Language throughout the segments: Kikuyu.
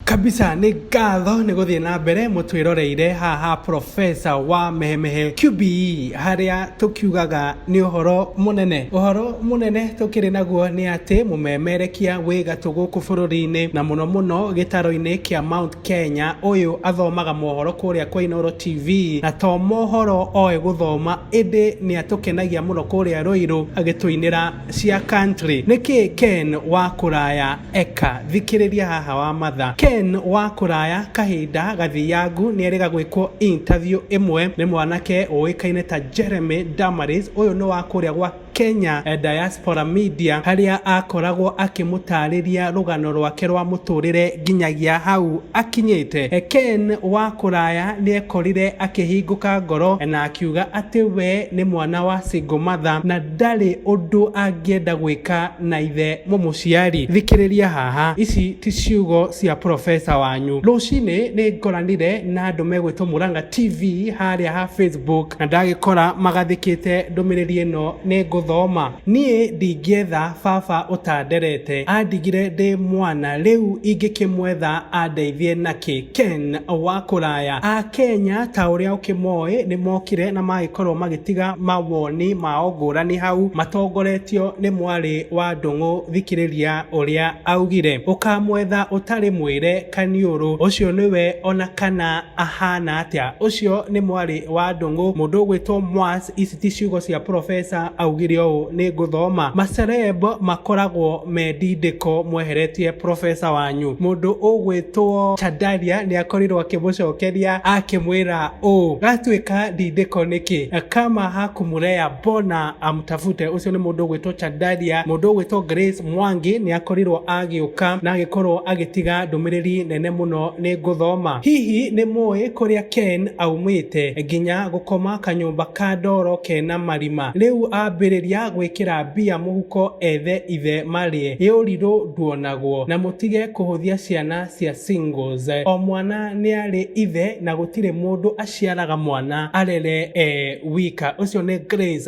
Kabisa nĩ ngatho nĩ gũthiĩ na mbere mũtwĩroreire haha profesa wa mehemehe QBE harĩa tũkiugaga nĩ ũhoro mũnene ũhoro mũnene tũkĩrĩ naguo nĩ atĩ mũmemerekia wĩ gatũ gũkũ bũrũri-inĩ na mũno mũno gĩtaro-inĩ kĩa Mount Kenya ũyũ athomaga mohoro kũrĩa kwa Inooro TV na to mohoro oĩ gũthoma ĩndĩ nĩ atũkenagia mũno kũrĩa Rũirũ agĩtũinĩra cia country nĩkĩ Ken wa kũraya Eka, thikĩrĩria haha wa matha. Ken wa kũraya kahinda gathiangu nĩerĩga gwĩkwo interview ĩmwe nĩ mwanake ũĩkaine ta Jeremy Damaris. Ũyũ nĩ wa kũrĩa gwa Kenya Diaspora Media harĩa akoragwo akĩmũtarĩria rũgano rwake rwa mũtũrĩre nginyagia hau akinyĩte. Ken wa kũraya nĩekorire akĩhingũka ngoro na akiuga atĩ we nĩ mwana wa single mother na ndarĩ ũndũ angĩenda gwĩka na ithe mũmũciari. Thikĩrĩria haha, ici ti ciugo cia professor wanyu. Rũcinĩ nĩ ngoranire na andũ megwĩtwo Murang'a TV harĩa ha Facebook na ndagĩkora magathĩkĩte ndũmĩrĩri ĩno nĩ ngũthoma. Niĩ ndingĩetha baba ũtanderete, andigire ndĩ mwana rĩu ingĩkĩmwetha andeithie nakĩ? Ken wa kũraya. Akenya ta ũrĩa ũkĩmoĩ nĩ mokire na magĩkorwo magĩtiga mawoni mao ngũrani hau matongoretio nĩ mwarĩ wa Ndũng'ũ thikĩrĩria ũrĩa augire. Ũkamwetha ũtarĩ mwĩre kaniũrũ ũcio nĩwe ona kana ahana atĩa. Ũcio nĩ mwarĩ wa Ndũng'ũ mũndũ ũgwĩtwo Mwas. Ici ti ciugo cia profesa augire ũũ nĩ ngũthoma macereb makoragwo me ndindĩko mweheretie profesa wanyu mũndũ ũgwĩtwo chandaria nĩ akorirwo akĩmũcokeria akĩmwĩra ũũ gatuĩka ndindĩko nĩkĩ kama hakumureya bona amtafute ũcio nĩ mũndũ ũgwĩtwo chandaria mũndũ ũgwĩtwo grace Mwangi nĩ akorirwo agĩũka na agĩkorwo agĩtiga ndũmĩrĩri nene mũno nĩ ngũthoma. Hihi nĩ mũĩ kũrĩa Ken aumĩte? Nginya gũkoma kanyũmba ka ndoro kena marima. Rĩu ambĩrĩria gwĩkĩra mbia mũhuko ethe ithe marĩe. Gĩũrirũ nduonagwo. Na mũtige kũhũthia ciana cia singles. O mwana nĩ arĩ ithe na gũtirĩ mũndũ aciaraga mwana arere e wika. Ũcio nĩ Grace.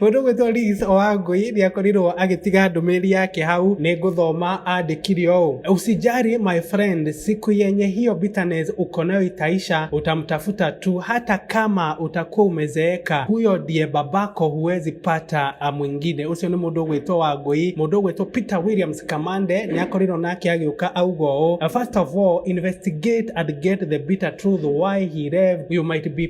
Mũndũ gwĩtwo Liz Owangui nĩ akorirwo agĩtiga ndũmĩrĩri yake hau nĩ ngũthoma andĩkire ũũ usijari my friend siku yenye hiyo bitterness uko nayo itaisha utamtafuta tu hata kama utakuwa umezeeka huyo ndiye babako huwezi pata ah, mwingine ucio nĩ mũndũ gwĩtwo Wangui mũndũ gwĩtwo Peter Williams Kamande nĩ akorirwo nake agĩũka auga ũũ first of all investigate and get the bitter truth why he left you might be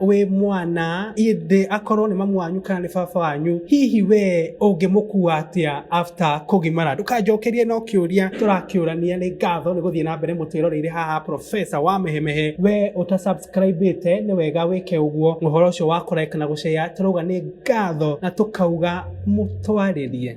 wĩ mwana ĩndĩ akorwo nĩ mamu wanyu kana nĩ baba wanyu hihi we ũngĩmũkua atĩa after kũgimara ndũkanjokerie no kĩũria tũrakĩũrania nĩ ngatho nĩ gũthiĩ na mbere mũtwĩroreire haha profesa wa mehemehe we ũtasubscribĩte nĩ wega wĩke ũguo ũhoro ũcio wa kũreka na gũceya tũrauga nĩ ngatho na tũkauga mũtwarĩrie